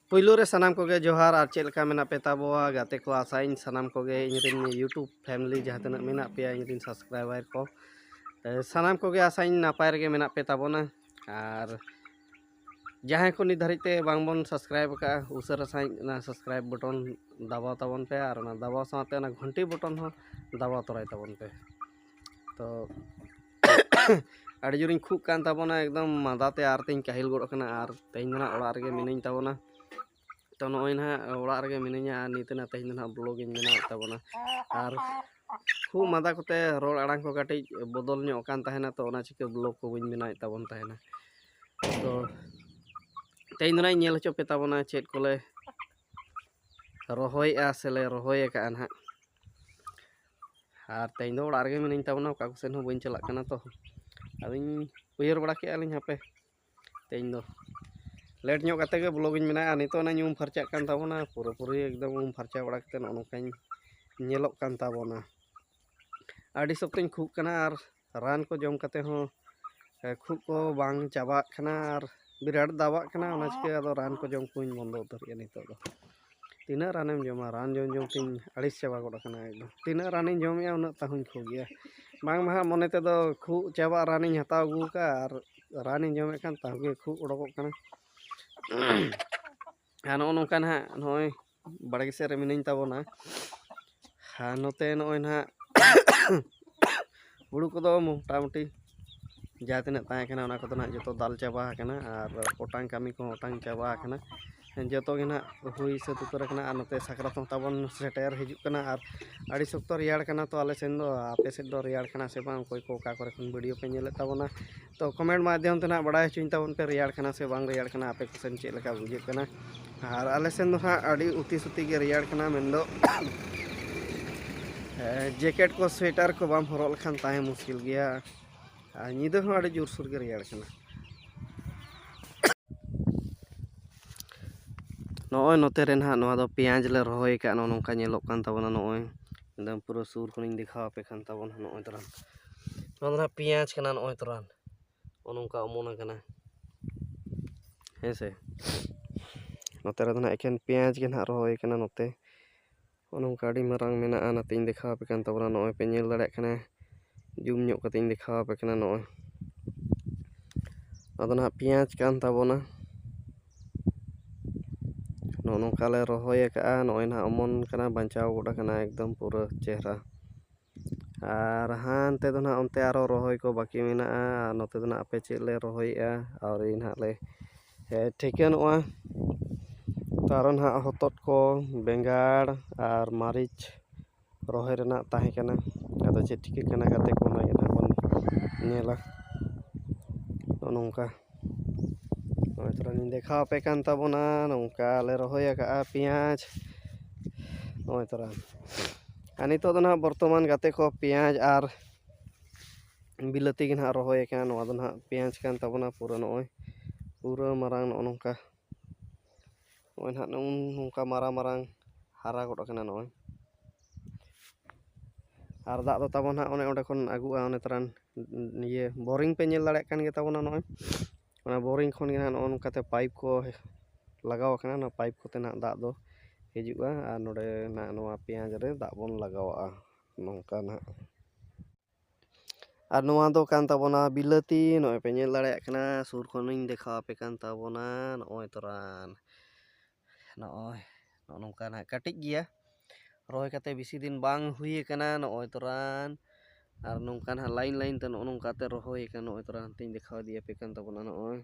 ᱯᱩᱭᱞᱩ ᱨᱮ ᱥᱟᱱᱟᱢ ᱠᱚᱜᱮ ᱡᱚᱦᱟᱨ ᱟᱨ ᱪᱮᱫ ᱞᱮᱠᱟ ᱢᱮᱱᱟᱜ ᱯᱮ ᱛᱟᱵᱚᱣᱟ ᱜᱟᱛᱮ ᱠᱚ ᱟᱥᱟᱭᱤᱧ ᱥᱟᱱᱟᱢ ᱠᱚᱜᱮ ᱤᱧᱨᱮᱱ ᱤᱭᱩᱴᱩᱵᱽ ᱯᱷᱮᱢᱞᱤ ᱡᱟᱦᱟᱸ ᱛᱤᱱᱟᱹᱜ ᱢᱮᱱᱟᱜ ᱯᱮᱭᱟ ᱤᱧᱨᱮᱱ ᱥᱟᱵᱥᱠᱨᱟᱭᱵᱟᱨ ᱠᱚ ᱥᱟᱱᱟᱢ ᱠᱚᱜᱮ ᱟᱥᱟᱭᱤᱧ ᱱᱟᱯᱟᱭ ᱨᱮᱜᱮ ᱢᱮᱱᱟᱜ ᱯᱮ ᱛᱟᱵᱚᱱᱟ ᱟᱨ ᱡᱟᱦᱟᱸᱭ ᱠᱚ ᱱᱤᱛ ᱫᱷᱟᱹᱨᱤᱡ ᱛᱮ ᱵᱟᱝ ᱵᱚᱱ ᱥᱟᱵᱥᱠᱨᱟᱭᱤᱵᱽ ᱟᱠᱟᱫᱼᱟ ᱩᱥᱟᱹᱨᱟ ᱥᱟᱺᱦᱤᱡ ᱚᱱᱟ ᱥᱟᱵᱥᱠᱨᱟᱭᱤᱵᱽ ᱵᱚᱴᱚᱱ ᱫᱟᱵᱟᱣ ᱛᱟᱵᱚᱱ ᱯᱮ ᱟᱨ ᱚᱱᱟ ᱫᱟᱵᱟᱣ ᱥᱟᱶᱛᱮ ᱚᱱᱟ ᱜᱷᱚᱱᱴᱤ ᱵᱚᱴᱚᱱ ᱦᱚᱸ ᱫᱟᱵᱟᱣ ᱛᱚᱨᱟᱭ ᱛᱟᱵᱚᱱ ᱯᱮ ᱛᱚ ᱟᱹᱰᱤ ᱡᱳᱨᱤᱧ ᱠᱷᱩᱜ ᱠᱟᱱ ᱛᱟᱵᱚᱱᱟ ᱮᱠᱫᱚᱢ ᱢᱟᱸᱫᱟ ᱛᱮ ᱟᱨ ᱛᱤᱧ ᱠᱟᱹᱦᱤᱞ ᱜᱚᱫ ᱟᱠᱟᱱᱟ ᱟᱨ ᱛᱮᱦᱮᱧ ᱫᱚ ᱱᱟᱦᱟᱜ ᱚᱲᱟᱜ ᱨᱮᱜᱮ ᱢᱤᱱᱟᱹᱧ ᱛᱟᱵᱚᱱᱟ ᱛᱚ ᱱᱚᱜᱼᱚᱭ ᱱᱟᱦᱟᱜ ᱚᱲᱟᱜ ᱨᱮᱜᱮ ᱢᱤᱱᱟᱹᱧᱟ ᱟᱨ ᱱᱤᱛ ᱱᱟᱦᱟᱜ ᱛᱮᱦᱮᱧ ᱫᱚ ᱱᱟᱦᱟᱜ ᱵᱞᱚᱜ ᱤᱧ ᱵᱮᱱᱟᱣᱮᱫ ᱛᱟᱵᱚᱱᱟ ᱟᱨ ᱠᱷᱩᱜ ᱢᱟᱸᱫᱟ ᱠᱚᱛᱮ ᱨᱚᱲ ᱟᱲᱟᱝ ᱠᱚ ᱠᱟᱹᱴᱤᱡ ᱵᱚᱫᱚᱞ ᱧᱚᱜ ᱠᱟᱱ ᱛᱟᱦᱮᱱᱟ ᱛᱚ ᱚᱱᱟ ᱪᱤᱠᱟᱹ ᱵᱞᱚᱜ ᱠᱚ ᱵᱟᱹᱧ ᱵᱮᱱᱟᱣᱮᱫ ᱛᱟᱵᱚᱱ ᱛᱟᱦᱮᱱᱟ ᱛᱚ ᱛᱮᱦᱮᱧ ᱫᱚ ᱱᱟᱦᱟᱜ ᱤᱧ ᱧᱮᱞ ᱦᱚᱪᱚ ᱯᱮ ᱛᱟᱵᱚᱱᱟ ᱪᱮᱫ ᱠᱚᱞᱮ ᱨᱚᱦᱚᱭᱮᱜᱼᱟ ᱥᱮᱞᱮ ᱨᱚᱦᱚᱭ ᱟᱠᱟᱜᱼᱟ ᱱᱟᱦᱟᱜ ᱟᱨ ᱛᱮᱦᱮᱧ ᱫᱚ ᱚᱲᱟᱜ ᱨᱮᱜᱮ ᱢᱤᱱᱟᱹᱧ ᱛᱟᱵᱚᱱᱟ ᱚᱠᱟ ᱠᱚᱥᱮᱱ ᱦᱚᱸ ᱵᱟᱹᱧ ᱪᱟᱞᱟᱜ ᱠᱟᱱᱟ ᱛᱚ ᱟᱫᱚᱧ ᱩᱭᱦᱟᱹᱨ ᱵᱟᱲᱟ ᱠᱮᱜᱼᱟ ᱞᱤᱧ ᱦᱟᱯᱮ ᱛᱮᱦᱮᱧ ᱫᱚ ᱞᱮᱴ ᱧᱚᱜ ᱠᱟᱛᱮ ᱜᱮ ᱵᱞᱚᱜᱤᱧ ᱢᱮᱱᱟᱜᱼᱟ ᱱᱤᱛᱚᱜ ᱚᱱᱟᱧ ᱩᱢ ᱯᱷᱟᱨᱪᱟᱜ ᱠᱟᱱ ᱛᱟᱵᱚᱱᱟ ᱯᱩᱨᱟᱹᱯᱩᱨᱤ ᱮᱠᱫᱚᱢ ᱩᱢ ᱯᱷᱟᱨᱪᱟ ᱵᱟᱲᱟ ᱠᱟᱛᱮ ᱱᱚᱜᱼᱚ ᱱᱚᱝᱠᱟᱧ ᱧᱮᱞᱚᱜ ᱠᱟᱱ ᱛᱟᱵᱚᱱᱟ ᱟᱹᱰᱤ ᱥᱚᱠᱛᱚᱧ ᱠᱷᱩᱜ ᱠᱟᱱᱟ ᱟᱨ ᱨᱟᱱ ᱠᱚ ᱡᱚᱢ ᱠᱟᱛᱮ ᱦᱚᱸ ᱠᱷᱩᱜ ᱠᱚ ᱵᱟᱝ ᱪᱟᱵᱟᱜ ᱠᱟᱱᱟ ᱟᱨ ᱵᱤᱨᱟᱴ ᱫᱟᱵᱟᱜ ᱠᱟᱱᱟ ᱚᱱᱟ ᱪᱤᱠᱟᱹ ᱟᱫᱚ ᱨᱟᱱ ᱠᱚ ᱡᱚᱢ ᱠᱚᱧ ᱵᱚᱱᱫᱚ ᱩᱛᱟᱹᱨ ᱠᱮᱫᱟ ᱱᱤᱛᱚᱜ ᱫᱚ ᱛᱤᱱᱟᱹᱜ ᱨᱟᱱᱮᱢ ᱡᱚᱢᱟ ᱨᱟᱱ ᱡᱚᱢ ᱡᱚᱢ ᱛᱤᱧ ᱟᱹᱲᱤᱥ ᱪᱟᱵᱟ ᱜᱚᱫ ᱟᱠᱟᱱᱟ ᱮᱠᱫᱚᱢ ᱛᱤᱱᱟᱹᱜ ᱨᱟᱱᱤᱧ ᱡᱚᱢᱮᱜᱼᱟ ᱩᱱᱟᱹᱜ ᱛᱟᱣᱦᱚᱸᱧ ᱠᱷᱩᱜ ᱜᱮᱭᱟ ᱵᱟᱝ ᱢᱟ ᱦᱟᱸᱜ ᱢᱚᱱᱮ ᱛᱮᱫᱚ ᱠᱷᱩᱜ ᱪᱟᱵᱟᱜ ᱨᱟᱱᱤᱧ ᱦᱟᱛᱟᱣ ᱟᱹᱜᱩ ᱟᱠᱟᱫᱼᱟ ᱟᱨ ᱨᱟᱱᱤᱧ ᱡᱚᱢᱮᱫ ᱠᱷᱟᱱ ᱛᱟᱣ ᱜᱮ ᱠᱷᱩᱜ ᱚᱰᱚᱠᱚᱜ ᱠᱟᱱᱟ ᱟᱨ ᱱᱚᱜᱼᱚ ᱱᱚᱝᱠᱟ ᱦᱟᱸᱜ ᱱᱚᱜᱼᱚᱭ ᱵᱟᱲᱜᱮ ᱥᱮᱫ ᱨᱮ ᱢᱤᱱᱟᱹᱧ ᱛᱟᱵᱚᱱᱟ ᱟᱨ ᱱᱚᱛᱮ ᱱᱚᱜᱼᱚᱭ ᱱᱟᱦᱟᱜ ᱦᱩᱲᱩ ᱠᱚᱫᱚ ᱢᱚᱴᱟᱢᱩᱴᱤ ᱡᱟᱦᱟᱸ ᱛᱤᱱᱟᱹᱜ ᱛᱟᱦᱮᱸ ᱠᱟᱱᱟ ᱚᱱᱟ ᱠᱚᱫᱚ ᱱᱟᱦᱟᱜ ᱡᱚᱛᱚ ᱫᱟᱞ ᱪᱟᱵᱟ ᱟᱠᱟᱱᱟ ᱟᱨ ᱚᱴᱟᱝ ᱠᱟᱹᱢᱤ ᱠᱚ ᱦᱚᱸ ᱚᱴᱟᱝ ᱪᱟᱵᱟ ᱟᱠᱟᱱᱟ ᱡᱚᱛᱚ ᱜᱮ ᱱᱟᱦᱟᱜ ᱦᱩᱭ ᱥᱟᱹᱛ ᱩᱛᱟᱹᱨ ᱟᱠᱟᱱᱟ ᱟᱨ ᱱᱚᱛᱮ ᱥᱟᱠᱨᱟᱛ ᱦᱚᱸ ᱛᱟᱵᱚᱱ ᱥᱮᱴᱮᱨ ᱦᱤᱡᱩᱜ ᱠᱟᱱᱟ ᱟᱨ ᱟᱹᱰᱤ ᱥᱚᱠᱛᱚ ᱨᱮᱭᱟᱲ ᱠᱟᱱᱟ ᱛᱚ ᱟᱞᱮ ᱥᱮᱱ ᱫᱚ ᱟᱯᱮ ᱥᱮᱫ ᱫᱚ ᱨᱮᱭᱟᱲ ᱠᱟᱱᱟ ᱥᱮ ᱵᱟᱝ ᱚᱠᱚᱭ ᱠᱚ ᱚᱠᱟ ᱠᱚᱨᱮ ᱠᱷᱚᱱ ᱵᱷᱤᱰᱤᱭᱳ ᱯᱮ ᱧᱮᱞᱮᱫ ᱛᱟᱵᱚᱱᱟ ᱛᱚ ᱠᱚᱢᱮᱱᱴ ᱢᱟᱫᱽᱫᱷᱚᱢ ᱛᱮ ᱱᱟᱦᱟᱜ ᱵᱟᱲᱟᱭ ᱦᱚᱪᱚᱧ ᱛᱟᱵᱚᱱ ᱯᱮ ᱨᱮᱭᱟᱲ ᱠᱟᱱᱟ ᱥᱮ ᱵᱟᱝ ᱨᱮᱭᱟᱲ ᱠᱟᱱᱟ ᱟᱯᱮ ᱠᱚᱥᱮᱱ ᱪᱮᱫ ᱞᱮᱠᱟ ᱵᱩᱡᱷᱟᱹᱜ ᱠᱟᱱᱟ ᱟᱨ ᱟᱞᱮ ᱥᱮᱱ ᱫᱚ ᱱᱟᱦᱟᱜ ᱟᱹᱰᱤ ᱩᱛᱤ ᱥᱩᱛᱤ ᱜᱮ ᱨᱮᱭᱟᱲ ᱠᱟᱱᱟ ᱢᱮᱱᱫᱚ ᱡᱮᱠᱮᱴ ᱠᱚ ᱥᱳᱭᱮᱴᱟᱨ ᱠᱚ ᱵᱟᱢ ᱦᱚᱨᱚᱜ ᱞᱮᱠᱷᱟᱱ ᱛᱟᱦᱮᱸ ᱢᱩᱥᱠᱤᱞ ᱜᱮᱭᱟ ᱟᱨ ᱧᱤᱫᱟᱹ ᱦᱚᱸ ᱟᱹᱰᱤ ᱡᱳᱨᱥᱳᱨ ᱜᱮ ᱨᱮᱭᱟᱲ ᱠᱟᱱᱟ ᱱᱚᱜᱼᱚᱭ ᱱᱚᱛᱮ ᱨᱮ ᱱᱟᱦᱟᱜ ᱱᱚᱣᱟ ᱫᱚ ᱯᱮᱸᱭᱟᱡᱽ ᱞᱮ ᱨᱚᱦᱚᱭ ᱟᱠᱟᱫᱼᱟ ᱱᱚᱜᱼᱚ ᱱᱚᱝᱠᱟ ᱧᱮᱞᱚᱜ ᱠᱟᱱ ᱛᱟᱵᱚᱱᱟ ᱱᱚᱜᱼᱚᱭ ᱮᱠᱫᱚᱢ ᱯᱩᱨᱟᱹ ᱥᱩᱨ ᱠᱷᱚᱱᱤᱧ ᱫᱮᱠᱷᱟᱣ ᱟᱯᱮ ᱠᱟᱱ ᱛᱟᱵᱚᱱᱟ ᱱᱚᱜᱼᱚᱭ ᱛᱚᱨᱟᱱ ᱱᱚᱣᱟ ᱫᱚ ᱱᱟᱦᱟᱜ ᱯᱮᱸᱭᱟᱡᱽ ᱠᱟᱱᱟ ᱱᱚᱜᱼᱚᱭ ᱛᱚᱨᱟᱱ ᱱᱚᱜᱼᱚ ᱱᱚᱝᱠᱟ ᱚᱢᱚᱱ ᱟᱠᱟᱱᱟ ᱦᱮᱸ ᱥᱮ ᱱᱚᱛᱮ ᱨᱮᱫᱚ ᱱᱟᱦᱟᱜ ᱮᱠᱮᱱ ᱯᱮᱸᱭᱟᱡᱽ ᱜᱮ ᱱᱟᱦᱟᱜ ᱨᱚᱦᱚᱭ ᱠᱟᱱᱟ ᱱᱚᱛᱮ ᱱᱚᱜᱼᱚ ᱱᱚᱝᱠᱟ ᱟᱹᱰᱤ ᱢᱟᱨᱟᱝ ᱢᱮᱱᱟᱜᱼᱟ ᱚᱱᱟᱛᱤᱧ ᱫᱮᱠᱷᱟᱣ ᱟᱯᱮ ᱠᱟᱱ ᱛᱟᱵᱚᱱᱟ ᱱᱚᱜᱼᱚᱭ ᱯᱮ ᱧᱮᱞ ᱫᱟᱲᱮᱭᱟᱜ ᱠᱟᱱᱟ ᱡᱩᱢ ᱧᱚᱜ ᱠᱟᱛᱮᱧ ᱫᱮᱠᱷᱟᱣ ᱟᱯᱮ ᱠᱟᱱᱟ ᱱᱚᱜᱼᱚᱭ ᱟᱫᱚ ᱱᱟᱦᱟᱜ ᱯᱮᱸᱭᱟᱡᱽ ᱠᱟᱱ ᱛᱟᱵᱚᱱᱟ ᱱᱚᱜᱼᱚ ᱱᱚᱝᱠᱟ ᱞᱮ ᱨᱚᱦᱚᱭ ᱠᱟᱜᱼᱟ ᱱᱚᱜᱼᱚᱭ ᱱᱟᱜ ᱚᱢᱚᱱ ᱠᱟᱱᱟ ᱵᱟᱧᱪᱟᱣ ᱜᱚᱫ ᱠᱟᱱᱟ ᱮᱠᱫᱚᱢ ᱯᱩᱨᱟᱹ ᱪᱮᱦᱨᱟ ᱟᱨ ᱦᱟᱱᱛᱮ ᱫᱚ ᱱᱟᱜ ᱚᱱᱛᱮ ᱟᱨᱚ ᱨᱚᱦᱚᱭ ᱠᱚ ᱵᱟᱹᱠᱤ ᱢᱮᱱᱟᱜᱼᱟ ᱟᱨ ᱱᱚᱛᱮ ᱫᱚ ᱱᱟᱜ ᱦᱟᱯᱮ ᱪᱮᱫ ᱞᱮ ᱨᱚᱦᱚᱭᱮᱜᱼᱟ ᱟᱹᱣᱨᱤ ᱱᱟᱜ ᱞᱮ ᱴᱷᱤᱠᱟᱹᱱᱚᱜᱼᱟ ᱛᱚ ᱟᱨᱚ ᱱᱟᱜ ᱦᱚᱛᱚᱫ ᱠᱚ ᱵᱮᱸᱜᱟᱲ ᱟᱨ ᱢᱟᱹᱨᱤᱪ ᱨᱚᱦᱚᱭ ᱨᱮᱱᱟᱜ ᱛᱟᱦᱮᱸ ᱠᱟᱱᱟ ᱟᱫᱚ ᱪᱮᱫ ᱪᱤᱠᱟᱹᱜ ᱠᱟᱱᱟ ᱜᱟᱛᱮ ᱠᱚ ᱚᱱᱟ ᱜᱮ ᱱᱟᱦᱟᱜ ᱵᱚᱱ ᱧᱮᱞᱟ ᱱᱚᱜᱼᱚ ᱱᱚᱝᱠᱟ ᱱᱚᱜᱼᱚᱭ ᱛᱷᱚᱲᱟᱞᱤᱧ ᱫᱮᱠᱷᱟᱣ ᱟᱯᱮ ᱠᱟᱱ ᱛᱟᱵᱚᱱᱟ ᱱᱚᱝᱠᱟ ᱞᱮ ᱨᱚᱦᱚᱭ ᱟᱠᱟᱫᱼᱟ ᱯᱮᱸᱭᱟᱡᱽ ᱱᱚᱜᱼᱚᱭ ᱛᱚᱨᱟ ᱟᱨ ᱱᱤᱛᱚᱜ ᱫᱚ ᱱᱟᱦᱟᱜ ᱵᱚᱨᱛᱚᱢᱟᱱ ᱜᱟᱛᱮ ᱠᱚ ᱯᱮᱸᱭᱟᱡᱽ ᱟᱨ ᱵᱤᱞᱟᱹᱛᱤ ᱜᱮ ᱱᱟᱦᱟᱜ ᱨᱚᱦᱚᱭ ᱟᱠᱟᱱᱟ ᱱᱚᱣᱟ ᱫᱚ ᱱᱟᱦᱟᱜ ᱯᱮᱸᱭᱟᱡᱽ ᱠᱟᱱ ᱛᱟᱵᱚᱱᱟ ᱯᱩᱨᱟᱹ ᱱᱚᱜᱼᱚᱭ ᱯᱩᱨᱟᱹ ᱢᱟᱨᱟᱝ ᱱᱚᱜᱼᱚ ᱱᱚᱝᱠᱟ ᱱᱚᱜᱼᱚᱭ ᱱᱟᱦᱟᱜ ᱱᱚᱝᱠᱟ ᱢᱟᱨᱟᱝ ᱢᱟᱨᱟᱝ ᱦᱟᱨᱟ ᱜᱚᱫ ᱠᱟᱱᱟ ᱱᱚᱜᱼᱚᱭ ᱟᱨ ᱫᱟᱜ ᱫᱚ ᱛᱟᱵᱚᱱ ᱦᱟᱸᱜ ᱚᱱᱮ ᱚᱸᱰᱮ ᱠᱷᱚᱱ ᱟᱹᱜᱩᱜᱼᱟ ᱚᱱᱮ ᱛᱟᱨᱟᱱ ᱤᱭᱟᱹ ᱵᱳᱨᱤᱝ ᱯᱮ ᱧᱮᱞ ᱫᱟᱲᱮᱭᱟᱜ ᱠᱟᱱ ᱜᱮᱛᱟᱵᱚᱱᱟ ᱱᱚᱜᱼᱚᱭ ᱚᱱᱟ ᱵᱳᱨᱤᱝ ᱠᱷᱚᱱ ᱜᱮ ᱱᱟᱦᱟᱜ ᱱᱚᱜᱼᱚ ᱱᱚᱝᱠᱟ ᱛᱮ ᱯᱟᱭᱤᱯ ᱠᱚ ᱞᱟᱜᱟᱣ ᱠᱟᱱᱟ ᱚᱱᱟ ᱯᱟᱭᱤᱯ ᱠᱚᱛᱮ ᱱᱟᱦᱟᱜ ᱫᱟᱜ ᱫᱚ ᱦᱤᱡᱩᱜᱼᱟ ᱟᱨ ᱱᱚᱰᱮ ᱱᱟᱦᱟᱜ ᱱᱚᱣᱟ ᱯᱮᱸᱭᱟᱡᱽ ᱨᱮ ᱫᱟᱜ ᱵᱚᱱ ᱞᱟᱜᱟᱣᱟᱜᱼᱟ ᱱᱚᱝᱠᱟ ᱱᱟᱦᱟᱜ ᱟᱨ ᱱᱚᱣᱟ ᱫᱚ ᱠᱟᱱ ᱛᱟᱵᱚᱱᱟ ᱵᱤᱞᱟᱹᱛᱤ ᱱᱚᱜᱼᱚᱭ ᱯᱮ ᱧᱮᱞ ᱫᱟᱲᱮᱭᱟᱜ ᱠᱟᱱᱟ ᱥᱩᱨ ᱠᱷᱚᱱᱤᱧ ᱫᱮᱠᱷᱟᱣ ᱟᱯᱮ ᱠᱟᱱ ᱛᱟᱵᱚᱱᱟ ᱱᱚᱜᱼᱚᱭ ᱛᱚᱨᱟᱱ ᱱᱚᱜᱼᱚᱭ ᱱᱚᱜᱼᱚ ᱱᱚᱝᱠᱟ ᱱᱟᱜ ᱠᱟᱹᱴᱤᱡ ᱜᱮᱭᱟ ᱨᱚᱦᱚᱭ ᱠᱟᱛᱮ ᱵᱮᱥᱤ ᱫᱤᱱ ᱵᱟᱝ ᱦᱩᱭ ᱠᱟᱱᱟ ᱱᱚᱜᱼᱚᱭ ᱛᱚᱨᱟᱱ ᱟᱨ ᱱᱚᱝᱠᱟ ᱱᱟᱜ ᱞᱟᱭᱤᱱ ᱞᱟᱭᱤᱱ ᱛᱮ ᱱᱚᱜᱼᱚ ᱱᱚᱝᱠᱟ ᱛᱮ ᱨᱚᱦᱚᱭ ᱠᱟᱱᱟ ᱱᱚᱜᱼᱚᱭ ᱛᱚᱨᱟᱱ ᱦᱟᱱᱛᱮᱧ ᱫᱮᱠᱷᱟᱣ ᱤᱫᱤᱭᱟᱯᱮ ᱠᱟᱱ ᱛᱟᱵᱚᱱᱟ ᱱᱚᱜᱼᱚᱭ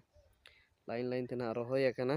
ᱞᱟᱭᱤᱱ ᱞᱟᱭᱤᱱ ᱛᱮ ᱱᱟᱜ ᱨᱚᱦᱚᱭ ᱟᱠᱟᱱᱟ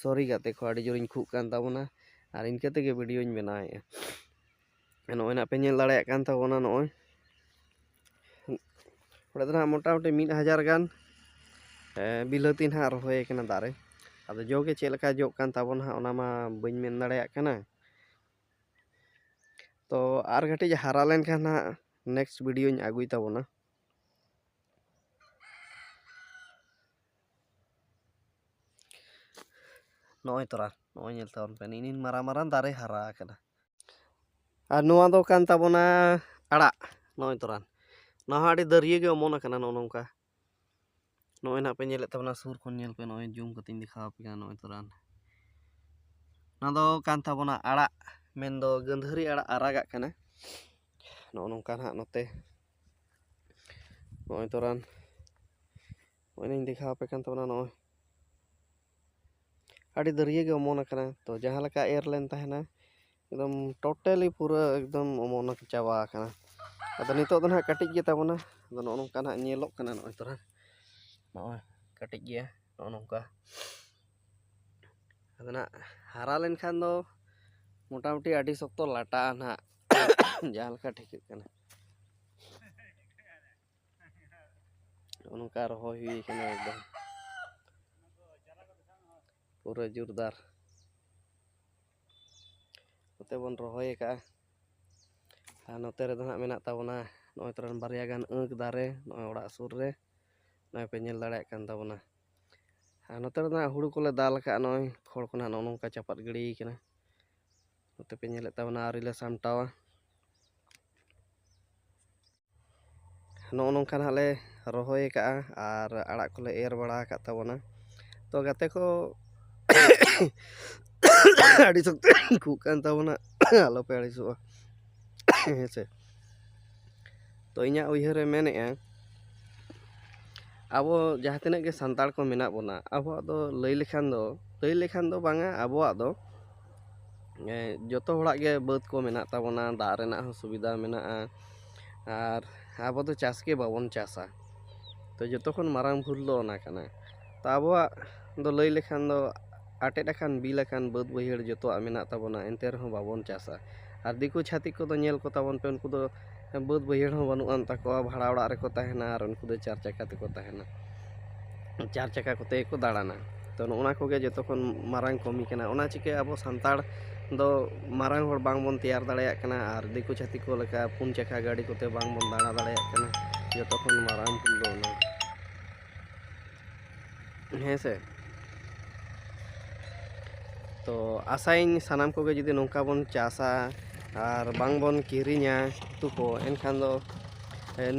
ᱥᱚᱨᱤ ᱜᱟᱛᱮ ᱠᱚ ᱟᱹᱰᱤ ᱡᱳᱨᱤᱧ ᱠᱷᱩᱜ ᱠᱟᱱ ᱛᱟᱵᱚᱱᱟ ᱟᱨ ᱤᱱᱠᱟᱹ ᱛᱮᱜᱮ ᱵᱷᱤᱰᱤᱭᱳᱧ ᱵᱮᱱᱟᱣᱮᱜᱼᱟ ᱱᱚᱜᱼᱚᱭ ᱱᱟᱜ ᱯᱮ ᱧᱮᱞ ᱫᱟᱲᱮᱭᱟᱜ ᱠᱟᱱ ᱛᱟᱵᱚᱱᱟ ᱱᱚᱜᱼᱚᱭ ᱚᱸᱰᱮ ᱫᱚ ᱱᱟᱦᱟᱜ ᱢᱚᱴᱟᱢᱩᱴᱤ ᱢᱤᱫ ᱦᱟᱡᱟᱨ ᱜᱟᱱ ᱵᱤᱞᱟᱹᱛᱤ ᱱᱟᱦᱟᱜ ᱨᱚᱦᱚᱭ ᱟᱠᱟᱱᱟ ᱫᱟᱨᱮ ᱟᱫᱚ ᱡᱚ ᱜᱮ ᱪᱮᱫ ᱞᱮᱠᱟ ᱡᱚᱜ ᱠᱟᱱ ᱛᱟᱵᱚᱱᱟ ᱦᱟᱸᱜ ᱚᱱᱟ ᱢᱟ ᱵᱟᱹᱧ ᱢᱮᱱ ᱫᱟᱲᱮᱭᱟᱜ ᱠᱟᱱᱟ ᱛᱚ ᱟᱨ ᱠᱟᱹᱴᱤᱡ ᱦᱟᱨᱟ ᱞᱮᱱᱠᱷᱟᱱ ᱦᱟᱸᱜ ᱱᱮᱠᱥᱴ ᱵᱷᱤᱰᱤᱭᱳᱧ ᱟᱹᱜᱩᱭ ᱛᱟᱵᱚᱱᱟ ᱱᱚᱜᱼᱚᱭ ᱛᱚᱨᱟ ᱱᱚᱜᱼᱚᱭ ᱧᱮᱞ ᱛᱟᱵᱚᱱ ᱯᱮ ᱱᱤᱱ ᱢᱟᱨᱟᱝ ᱢᱟᱨᱟᱝ ᱫᱟᱨᱮ ᱦᱟᱨᱟ ᱟᱠᱟᱱᱟ ᱟᱨ ᱱᱚᱣᱟ ᱫᱚ ᱠᱟᱱ ᱛᱟᱵᱚᱱᱟ ᱟᱲᱟᱜ ᱱᱚᱜᱼᱚᱭ ᱛᱚᱨᱟ ᱱᱚᱣᱟ ᱦᱚᱸ ᱟᱹᱰᱤ ᱫᱟᱹᱨᱭᱟᱹ ᱜᱮ ᱚᱢᱚᱱ ᱟᱠᱟᱱᱟ ᱱᱚᱜᱼᱚ ᱱᱚᱝᱠᱟ ᱱᱚᱜᱼᱚᱸᱭ ᱱᱟᱦᱟᱜ ᱯᱮ ᱧᱮᱞᱮᱫ ᱛᱟᱵᱚᱱᱟ ᱥᱩᱨ ᱠᱷᱚᱱ ᱧᱮᱞ ᱯᱮ ᱱᱚᱜᱼᱚᱸᱭ ᱡᱩᱢ ᱠᱟᱛᱮᱧ ᱫᱮᱠᱷᱟᱣ ᱟᱯᱮ ᱠᱟᱱᱟ ᱱᱚᱜᱼᱚᱸᱭ ᱛᱚᱨᱟᱝ ᱱᱚᱣᱟ ᱫᱚ ᱠᱟᱱ ᱛᱟᱵᱚᱱᱟ ᱟᱲᱟᱜ ᱢᱮᱱ ᱫᱚ ᱜᱟᱹᱫᱷᱟᱹᱨᱤ ᱟᱲᱟᱜ ᱟᱨᱟᱜᱟᱜ ᱠᱟᱱᱟ ᱱᱚᱜᱼᱚᱸᱭ ᱱᱚᱝᱠᱟ ᱱᱟᱦᱟᱜ ᱱᱚᱛᱮ ᱱᱚᱜᱼᱚᱸᱭ ᱛᱚᱨᱟᱝ ᱱᱚᱜᱼᱚᱸᱭ ᱞᱤᱧ ᱫᱮᱠᱷᱟᱣ ᱟᱯᱮ ᱠᱟᱱ ᱛᱟᱵᱚᱱᱟ ᱱᱚᱜᱼᱚᱸᱭ ᱟᱹᱰᱤ ᱫᱟᱹᱨᱭᱟᱹ ᱜᱮ ᱚᱢᱚᱱ ᱟᱠᱟᱱᱟ ᱛᱚ ᱡᱟᱦᱟᱸ ᱞᱮᱠᱟ ᱮᱨ ᱞᱮᱱ ᱛᱟᱦᱮᱱᱟ ᱮᱠᱫᱚᱢ ᱴᱳᱴᱟᱞᱤ ᱯᱩᱨᱟᱹ ᱮᱠᱫᱚᱢ ᱚᱢᱚᱱ ᱪᱟᱵᱟ ᱟᱠᱟᱱᱟ ᱟᱫᱚ ᱱᱤᱛᱚᱜ ᱫᱚ ᱱᱟᱦᱟᱜ ᱠᱟᱹᱴᱤᱡ ᱜᱮᱛᱟ ᱵᱚᱱᱟ ᱟᱫᱚ ᱱᱚᱜᱼᱚ ᱱᱚᱝᱠᱟ ᱱᱟᱦᱟᱜ ᱧᱮᱞᱚᱜ ᱠᱟᱱᱟ ᱱᱚᱜᱼᱚᱭ ᱛᱚᱨᱟ ᱱᱚᱜᱼᱚᱭ ᱠᱟᱹᱴᱤᱡ ᱜᱮᱭᱟ ᱱᱚᱜᱼᱚ ᱱᱚᱝᱠᱟ ᱟᱫᱚ ᱱᱟᱦᱟᱜ ᱦᱟᱨᱟ ᱞᱮᱱᱠᱷᱟᱱ ᱫᱚ ᱢᱚᱴᱟᱢᱩᱴᱤ ᱟᱹᱰᱤ ᱥᱚᱠᱛᱚ ᱞᱟᱴᱟᱜᱼᱟ ᱱᱟᱦᱟᱜ ᱡᱟᱦᱟᱸ ᱞᱮᱠᱟ ᱴᱷᱤᱠᱟᱹᱜ ᱠᱟᱱᱟ ᱱᱚᱜᱼᱚ ᱱᱚᱝᱠᱟ ᱨᱚᱦᱚᱭ ᱦᱩᱭ ᱠᱟᱱᱟ ᱮᱠᱫᱚᱢ ᱯᱩᱨᱟᱹ ᱡᱳᱨᱫᱟᱨ ᱱᱚᱛᱮ ᱵᱚᱱ ᱨᱚᱦᱚᱭ ᱟᱠᱟᱜᱼᱟ ᱟᱨ ᱱᱚᱛᱮ ᱨᱮᱫᱚ ᱦᱟᱸᱜ ᱢᱮᱱᱟᱜ ᱛᱟᱵᱚᱱᱟ ᱱᱚᱜᱼᱚᱭ ᱛᱚᱨᱟᱱ ᱵᱟᱨᱭᱟ ᱜᱟᱱ ᱟᱺᱠ ᱫᱟᱨᱮ ᱱᱚᱜᱼᱚᱭ ᱚᱲᱟᱜ ᱥᱩᱨ ᱨᱮ ᱱᱚᱜᱼᱚᱭ ᱯᱮ ᱧᱮᱞ ᱫᱟᱲᱮᱭᱟᱜ ᱠᱟᱱ ᱛᱟᱵᱚᱱᱟ ᱟᱨ ᱱᱚᱛᱮ ᱨᱮᱫᱚ ᱦᱟᱸᱜ ᱦᱩᱲᱩ ᱠᱚᱞᱮ ᱫᱟᱞ ᱟᱠᱟᱫᱼᱟ ᱱᱚᱜᱼᱚᱭ ᱠᱷᱚᱲ ᱠᱚ ᱱᱟᱦᱟᱜ ᱱᱚᱜᱼᱚ ᱱᱚᱝᱠᱟ ᱪᱟᱯᱟᱫ ᱜᱤᱰᱤᱭ ᱠᱟᱱᱟ ᱱᱚᱛᱮ ᱯᱮ ᱧᱮᱞᱮᱫ ᱛᱟᱵᱚᱱᱟ ᱟᱹᱣᱨᱤ ᱞᱮ ᱥᱟᱢᱴᱟᱣᱟ ᱱᱚᱜᱼᱚ ᱱᱚᱝᱠᱟ ᱱᱟᱜ ᱞᱮ ᱨᱚᱦᱚᱭ ᱠᱟᱜᱼᱟ ᱟᱨ ᱟᱲᱟᱜ ᱠᱚᱞᱮ ᱮᱨ ᱵᱟᱲᱟ ᱟᱠᱟᱫ ᱛᱟᱵᱚᱱᱟ ᱛᱚ ᱜᱟᱛᱮ ᱠᱚ ᱟᱹᱰᱤ ᱥᱚᱠᱛᱚ ᱠᱷᱩᱜ ᱠᱟᱱ ᱛᱟᱵᱚᱱᱟ ᱟᱞᱚᱯᱮ ᱟᱹᱲᱤᱥᱚᱜᱼᱟ ᱦᱮᱸ ᱥᱮ ᱛᱚ ᱤᱧᱟᱹᱜ ᱩᱭᱦᱟᱹᱨ ᱮ ᱢᱮᱱᱮᱫᱼᱟ ᱟᱵᱚ ᱡᱟᱦᱟᱸ ᱛᱤᱱᱟᱹᱜ ᱜᱮ ᱥᱟᱱᱛᱟᱲ ᱠᱚ ᱢᱮᱱᱟᱜ ᱵᱚᱱᱟ ᱟᱵᱚᱣᱟᱜ ᱫᱚ ᱞᱟᱹᱭ ᱞᱮᱠᱷᱟᱱ ᱫᱚ ᱞᱟᱹᱭ ᱞᱮᱠᱷᱟᱱ ᱫᱚ ᱵᱟᱝᱟ ᱟᱵᱚᱣᱟᱜ ᱫᱚ ᱡᱚᱛᱚ ᱦᱚᱲᱟᱜ ᱜᱮ ᱵᱟᱹᱫᱽ ᱠᱚ ᱢᱮᱱᱟᱜ ᱛᱟᱵᱚᱱᱟ ᱫᱟᱜ ᱨᱮᱱᱟᱜ ᱦᱚᱸ ᱥᱩᱵᱤᱫᱟ ᱢᱮᱱᱟᱜᱼᱟ ᱟᱨ ᱟᱵᱚ ᱫᱚ ᱪᱟᱥ ᱜᱮ ᱵᱟᱵᱚᱱ ᱪᱟᱥᱟ ᱛᱚ ᱡᱚᱛᱚ ᱠᱷᱚᱱ ᱢᱟᱨᱟᱝ ᱵᱷᱩᱞ ᱫᱚ ᱚᱱᱟ ᱠᱟᱱᱟ ᱛᱚ ᱟᱵᱚᱣᱟᱜ ᱫᱚ ᱞᱟᱹᱭ ᱞᱮᱠᱷᱟᱱ ᱫᱚ ᱟᱴᱮᱫ ᱟᱠᱟᱱ ᱵᱤᱞ ᱟᱠᱟᱱ ᱵᱟᱹᱫᱽ ᱵᱟᱹᱭᱦᱟᱹᱲ ᱡᱚᱛᱚᱣᱟᱜ ᱢᱮᱱᱟᱜ ᱛᱟᱵᱚᱱᱟ ᱮᱱᱛᱮ ᱨᱮᱦᱚᱸ ᱵᱟᱵᱚᱱ ᱪᱟᱥᱟ ᱟᱨ ᱫᱤᱠᱩ ᱪᱷᱟᱹᱛᱤᱠ ᱠᱚᱫᱚ ᱧᱮᱞ ᱠᱚᱛᱟ ᱵᱚᱱ ᱯᱮ ᱩᱱᱠᱩ ᱫᱚ ᱵᱟᱹᱫᱽ ᱵᱟᱹᱭᱦᱟᱹᱲ ᱦᱚᱸ ᱵᱟᱹᱱᱩᱜ ᱟᱱ ᱛᱟᱠᱚᱣᱟ ᱵᱷᱟᱲᱟ ᱚᱲᱟᱜ ᱨᱮᱠᱚ ᱛᱟᱦᱮᱱᱟ ᱟᱨ ᱩᱱᱠᱩ ᱫᱚ ᱪᱟᱨ ᱪᱟᱠᱟ ᱛᱮᱠᱚ ᱛᱟᱦᱮᱱᱟ ᱪᱟᱨ ᱪᱟᱠᱟ ᱠᱚᱛᱮ ᱜᱮᱠᱚ ᱫᱟᱬᱟᱱᱟ ᱛᱚ ᱱᱚᱜᱼᱚ ᱱᱟ ᱠᱚᱜᱮ ᱡᱚᱛᱚ ᱠᱷᱚᱱ ᱢᱟᱨᱟᱝ ᱠᱟᱹᱢᱤ ᱠᱟᱱᱟ ᱚᱱᱟ ᱪᱤᱠᱟᱹ ᱟᱵᱚ ᱥᱟᱱᱛᱟᱲ ᱫᱚ ᱢᱟᱨᱟᱝ ᱦᱚᱲ ᱵᱟᱝ ᱵᱚᱱ ᱛᱮᱭᱟᱨ ᱫᱟᱲᱮᱭᱟᱜ ᱠᱟᱱᱟ ᱟᱨ ᱫᱤᱠᱩ ᱪᱷᱟᱹᱛᱤᱠ ᱠᱚ ᱞᱮᱠᱟ ᱯᱩᱱ ᱪᱟᱠᱟ ᱜᱟᱹᱰᱤ ᱠᱚᱛᱮ ᱵᱟᱝ ᱵᱚᱱ ᱫᱟᱬᱟ ᱫᱟᱲᱮᱭᱟᱜ ᱠᱟᱱᱟ ᱡᱚᱛᱚ ᱠᱷᱚᱱ ᱢᱟᱨᱟᱝ ᱵᱷᱩᱞ ᱫᱚ ᱚᱱᱟ ᱦᱮᱸ ᱥᱮ ᱛᱚ ᱟᱥᱟᱭᱟᱹᱧ ᱥᱟᱱᱟᱢ ᱠᱚᱜᱮ ᱡᱩᱫᱤ ᱱᱚᱝᱠᱟ ᱵᱚᱱ ᱪᱟᱥᱟ ᱟᱨ ᱵᱟᱝ ᱵᱚᱱ ᱠᱤᱨᱤᱧᱟ ᱩᱛᱩ ᱠᱚ ᱮᱱᱠᱷᱟᱱ ᱫᱚ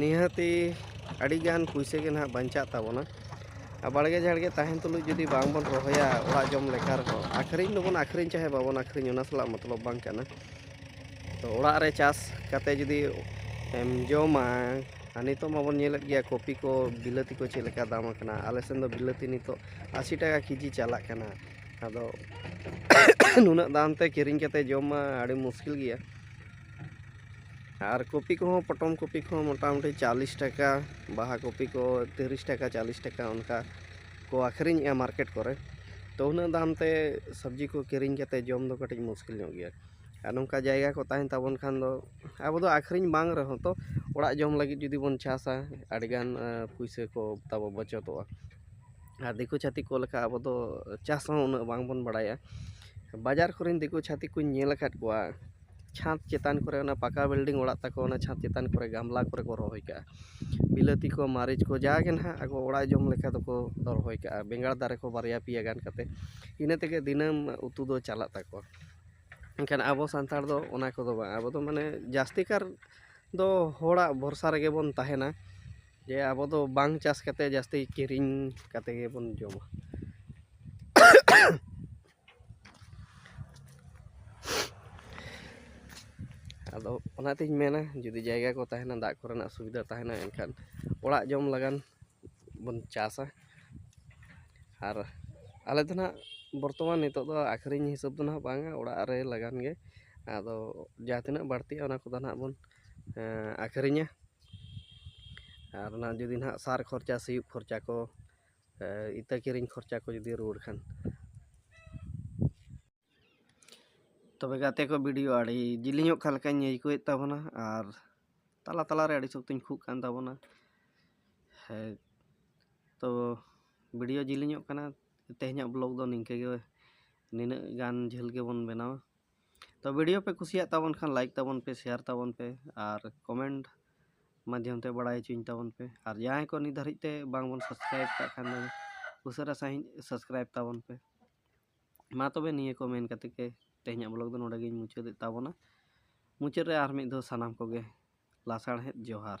ᱱᱤᱦᱟᱹᱛᱤ ᱟᱹᱰᱤᱜᱟᱱ ᱯᱩᱭᱥᱟᱹ ᱜᱮ ᱱᱟᱦᱟᱜ ᱵᱟᱧᱪᱟᱜ ᱛᱟᱵᱚᱱᱟ ᱵᱟᱲᱜᱮ ᱡᱷᱟᱲᱜᱮ ᱛᱟᱦᱮᱱ ᱛᱩᱞᱩᱡ ᱡᱩᱫᱤ ᱵᱟᱝ ᱵᱚᱱ ᱨᱚᱦᱚᱭᱟ ᱚᱲᱟᱜ ᱡᱚᱢ ᱞᱮᱠᱟ ᱨᱮᱦᱚᱸ ᱟᱹᱠᱷᱨᱤᱧ ᱫᱚᱵᱚᱱ ᱟᱹᱠᱷᱨᱤᱧ ᱪᱟᱦᱮ ᱵᱟᱵᱚᱱ ᱟᱹᱠᱷᱨᱤᱧ ᱚᱱᱟ ᱥᱟᱞᱟᱜ ᱢᱚᱛᱞᱚᱵ ᱵᱟᱝ ᱠᱟᱱᱟ ᱛᱚ ᱚᱲᱟᱜ ᱨᱮ ᱪᱟᱥ ᱠᱟᱛᱮ ᱡᱩᱫᱤ ᱮᱢ ᱡᱚᱢᱟ ᱟᱨ ᱱᱤᱛᱚᱜ ᱢᱟᱵᱚᱱ ᱧᱮᱞᱮᱫ ᱜᱮᱭᱟ ᱠᱚᱯᱤ ᱠᱚ ᱵᱤᱞᱟᱹᱛᱤ ᱠᱚ ᱪᱮᱫ ᱞᱮᱠᱟ ᱫᱟᱢ ᱟᱠᱟᱱᱟ ᱟᱞᱮ ᱥᱮᱱ ᱫᱚ ᱵᱤᱞᱟᱹᱛᱤ ᱱᱤᱛᱚᱜ ᱟᱹᱥᱤ ᱴᱟᱠᱟ ᱠᱮᱡᱤ ᱪᱟᱞᱟᱜ ᱠᱟᱱᱟ ᱟᱫᱚ ᱱᱩᱱᱟᱹᱜ ᱫᱟᱢ ᱛᱮ ᱠᱤᱨᱤᱧ ᱠᱟᱛᱮ ᱡᱚᱢ ᱢᱟ ᱟᱹᱰᱤ ᱢᱩᱥᱠᱤᱞ ᱜᱮᱭᱟ ᱟᱨ ᱠᱚᱯᱤ ᱠᱚᱦᱚᱸ ᱯᱚᱴᱚᱢ ᱠᱚᱯᱤ ᱠᱚᱦᱚᱸ ᱢᱚᱴᱟᱢᱩᱴᱤ ᱪᱟᱞᱤᱥ ᱴᱟᱠᱟ ᱵᱟᱦᱟ ᱠᱚᱯᱤ ᱠᱚ ᱛᱤᱨᱤᱥ ᱴᱟᱠᱟ ᱪᱟᱞᱤᱥ ᱴᱟᱠᱟ ᱚᱱᱠᱟ ᱠᱚ ᱟᱹᱠᱷᱨᱤᱧᱮᱜᱼᱟ ᱢᱟᱨᱠᱮᱴ ᱠᱚᱨᱮ ᱛᱚ ᱩᱱᱟᱹᱜ ᱫᱟᱢ ᱛᱮ ᱥᱚᱵᱽᱡᱤ ᱠᱚ ᱠᱤᱨᱤᱧ ᱠᱟᱛᱮ ᱡᱚᱢ ᱫᱚ ᱠᱟᱹᱴᱤᱡ ᱢᱩᱥᱠᱤᱞ ᱧᱚᱜ ᱜᱮᱭᱟ ᱟᱨ ᱱᱚᱝᱠᱟ ᱡᱟᱭᱜᱟ ᱠᱚ ᱛᱟᱦᱮᱱ ᱛᱟᱵᱚᱱ ᱠᱷᱟᱱ ᱫᱚ ᱟᱵᱚ ᱫᱚ ᱟᱹᱠᱷᱨᱤᱧ ᱵᱟᱝ ᱨᱮᱦᱚᱸ ᱛᱚ ᱚᱲᱟᱜ ᱡᱚᱢ ᱞᱟᱹᱜᱤᱫ ᱡᱩᱫᱤ ᱵᱚᱱ ᱪᱟᱥᱟ ᱟᱹᱰᱤ ᱜᱟᱱ ᱯᱩᱭᱥᱟᱹ ᱠᱚ ᱛᱟᱵᱚ ᱵᱟᱪᱚᱛᱚᱜᱼᱟ ᱟᱨ ᱫᱤᱠᱩ ᱪᱷᱟᱹᱛᱤᱠ ᱠᱚ ᱞᱮᱠᱟ ᱟᱵᱚ ᱫᱚ ᱪᱟᱥ ᱦᱚᱸ ᱩᱱᱟᱹᱜ ᱵᱟᱝ ᱵᱚᱱ ᱵᱟᱲᱟᱭᱟ ᱵᱟᱡᱟᱨ ᱠᱚᱨᱮᱱ ᱫᱤᱠᱩ ᱪᱷᱟᱹᱛᱤᱠ ᱠᱚᱧ ᱧᱮᱞ ᱟᱠᱟᱫ ᱠᱚᱣᱟ ᱪᱷᱟᱸᱫᱽ ᱪᱮᱛᱟᱱ ᱠᱚᱨᱮ ᱚᱱᱟ ᱯᱟᱠᱟ ᱵᱤᱞᱰᱤᱝ ᱚᱲᱟᱜ ᱛᱟᱠᱚ ᱚᱱᱟ ᱪᱷᱟᱸᱫᱽ ᱪᱮᱛᱟᱱ ᱠᱚᱨᱮ ᱜᱟᱢᱞᱟ ᱠᱚᱨᱮ ᱠᱚ ᱨᱚᱦᱚᱭ ᱠᱟᱜᱼᱟ ᱵᱤᱞᱟᱹᱛᱤ ᱠᱚ ᱢᱟᱹᱨᱤᱪ ᱠᱚ ᱡᱟᱜᱮ ᱱᱟᱦᱟᱜ ᱟᱠᱚ ᱚᱲᱟᱜ ᱡᱚᱢ ᱞᱮᱠᱟ ᱫᱚᱠᱚ ᱨᱚᱦᱚᱭ ᱠᱟᱜᱼᱟ ᱵᱮᱸᱜᱟᱲ ᱫᱟᱨᱮ ᱠᱚ ᱵᱟᱨᱭᱟ ᱯᱮᱭᱟ ᱜᱟᱱ ᱠᱟᱛᱮᱫ ᱤᱱᱟᱹ ᱛᱮᱜᱮ ᱫᱤᱱᱟᱹᱢ ᱩᱛᱩ ᱫᱚ ᱪᱟᱞᱟᱜ ᱛᱟᱠᱚᱣᱟ ᱢᱮᱱᱠᱷᱟᱱ ᱟᱵᱚ ᱥᱟᱱᱛᱟᱲ ᱫᱚ ᱚᱱᱟ ᱠᱚᱫᱚ ᱵᱟᱝ ᱟᱵᱚ ᱫᱚ ᱢᱟᱱᱮ ᱡᱟᱹᱥᱛᱤ ᱠᱟᱨ ᱫᱚ ᱦᱚᱲᱟᱜ ᱵᱷᱚᱨᱥᱟ ᱨᱮᱜᱮ ᱵᱚᱱ ᱛᱟᱦᱮᱱᱟ ᱡᱮ ᱟᱵᱚ ᱫᱚ ᱵᱟᱝ ᱪᱟᱥ ᱠᱟᱛᱮ ᱡᱟᱹᱥᱛᱤ ᱠᱤᱨᱤᱧ ᱠᱟᱛᱮ ᱜᱮᱵᱚᱱ ᱡᱚᱢᱟ ᱟᱫᱚ ᱚᱱᱟᱛᱤᱧ ᱢᱮᱱᱟ ᱡᱩᱫᱤ ᱡᱟᱭᱜᱟ ᱠᱚ ᱛᱟᱦᱮᱱᱟ ᱫᱟᱜ ᱠᱚᱨᱮᱱᱟᱜ ᱥᱩᱵᱤᱫᱟ ᱛᱟᱦᱮᱱᱟ ᱮᱱᱠᱷᱟᱱ ᱚᱲᱟᱜ ᱡᱚᱢ ᱞᱟᱜᱟᱱ ᱵᱚᱱ ᱪᱟᱥᱟ ᱟᱨ ᱟᱞᱮ ᱫᱚ ᱱᱟᱦᱟᱜ ᱵᱚᱨᱛᱚᱢᱟᱱ ᱱᱤᱛᱚᱜ ᱫᱚ ᱟᱹᱠᱷᱨᱤᱧ ᱦᱤᱥᱟᱹᱵ ᱫᱚ ᱱᱟᱦᱟᱜ ᱵᱟᱝᱟ ᱚᱲᱟᱜ ᱨᱮ ᱞᱟᱜᱟᱱ ᱜᱮ ᱟᱫᱚ ᱡᱟᱦᱟᱸ ᱛᱤᱱᱟᱹᱜ ᱵᱟᱹᱲᱛᱤᱜᱼᱟ ᱚᱱᱟ ᱠᱚᱫᱚ ᱱᱟᱦᱟᱜ ᱵᱚᱱ ᱟᱹᱠᱷᱨᱤᱧᱟ ᱟᱨ ᱚᱱᱟ ᱡᱩᱫᱤ ᱱᱟᱦᱟᱜ ᱥᱟᱨ ᱠᱷᱚᱨᱪᱟ ᱥᱤᱭᱳᱜ ᱠᱷᱚᱨᱪᱟ ᱠᱚ ᱤᱛᱟᱹ ᱠᱤᱨᱤᱧ ᱠᱷᱚᱨᱪᱟ ᱠᱚ ᱡᱩᱫᱤ ᱨᱩᱣᱟᱹᱲ ᱠᱷᱟᱱ ᱛᱚᱵᱮ ᱜᱟᱛᱮ ᱠᱚ ᱵᱷᱤᱰᱤᱭᱳ ᱟᱹᱰᱤ ᱡᱤᱞᱤᱧᱚᱜ ᱠᱟᱱ ᱞᱮᱠᱟᱧ ᱟᱹᱭᱠᱟᱹᱣᱮᱫ ᱛᱟᱵᱚᱱᱟ ᱟᱨ ᱛᱟᱞᱟ ᱛᱟᱞᱟᱨᱮ ᱟᱹᱰᱤ ᱥᱚᱠᱛᱚᱧ ᱠᱷᱩᱜ ᱠᱟᱱ ᱛᱟᱵᱚᱱᱟ ᱦᱮᱸ ᱛᱚ ᱵᱷᱤᱰᱤᱭᱳ ᱡᱤᱞᱤᱧᱚᱜ ᱠᱟᱱᱟ ᱛᱮᱦᱮᱧᱟᱜ ᱵᱞᱚᱜᱽ ᱫᱚ ᱱᱤᱝᱠᱟᱹ ᱜᱮ ᱱᱤᱱᱟᱹᱜ ᱜᱟᱱ ᱡᱷᱟᱹᱞ ᱜᱮᱵᱚᱱ ᱵᱮᱱᱟᱣᱟ ᱛᱚ ᱵᱷᱤᱰᱤᱭᱳ ᱯᱮ ᱠᱩᱥᱤᱭᱟᱜ ᱛᱟᱵᱚᱱ ᱠᱷᱟᱱ ᱞᱟᱭᱤᱠ ᱛᱟᱵᱚᱱ ᱯᱮ ᱥᱮᱭᱟᱨ ᱛᱟᱵᱚᱱ ᱯᱮ ᱟᱨ ᱠᱚᱢᱮᱱᱴ ᱢᱟᱫᱽᱫᱷᱚᱢ ᱛᱮ ᱵᱟᱲᱟᱭ ᱦᱚᱪᱚᱧ ᱛᱟᱵᱚᱱ ᱯᱮ ᱟᱨ ᱡᱟᱦᱟᱸᱭ ᱠᱚ ᱱᱤᱛ ᱫᱷᱟᱹᱨᱤᱡ ᱛᱮ ᱵᱟᱝᱵᱚᱱ ᱥᱟᱵᱥᱠᱨᱟᱭᱤᱵ ᱠᱟᱜ ᱠᱷᱟᱱ ᱫᱚ ᱩᱥᱟᱹᱨᱟ ᱥᱟᱺᱦᱤᱡ ᱥᱟᱵᱥᱠᱨᱟᱭᱤᱵ ᱛᱟᱵᱚᱱ ᱯᱮ ᱢᱟ ᱛᱚᱵᱮ ᱱᱤᱭᱟᱹ ᱠᱚ ᱢᱮᱱ ᱠᱟᱛᱮ ᱜᱮ ᱛᱮᱦᱮᱧᱟᱜ ᱵᱞᱚᱜᱽ ᱫᱚ ᱱᱚᱰᱮ ᱜᱤᱧ ᱢᱩᱪᱟᱹᱫᱮᱫ ᱛᱟᱵᱚᱱᱟ ᱢᱩᱪᱟᱹᱫ ᱨᱮ ᱟᱨ ᱢᱤᱫ ᱫᱷᱟᱣ ᱥᱟᱱᱟᱢ ᱠᱚᱜᱮ ᱞᱟᱥᱟᱲᱦᱮᱫ ᱡᱚᱦᱟᱨ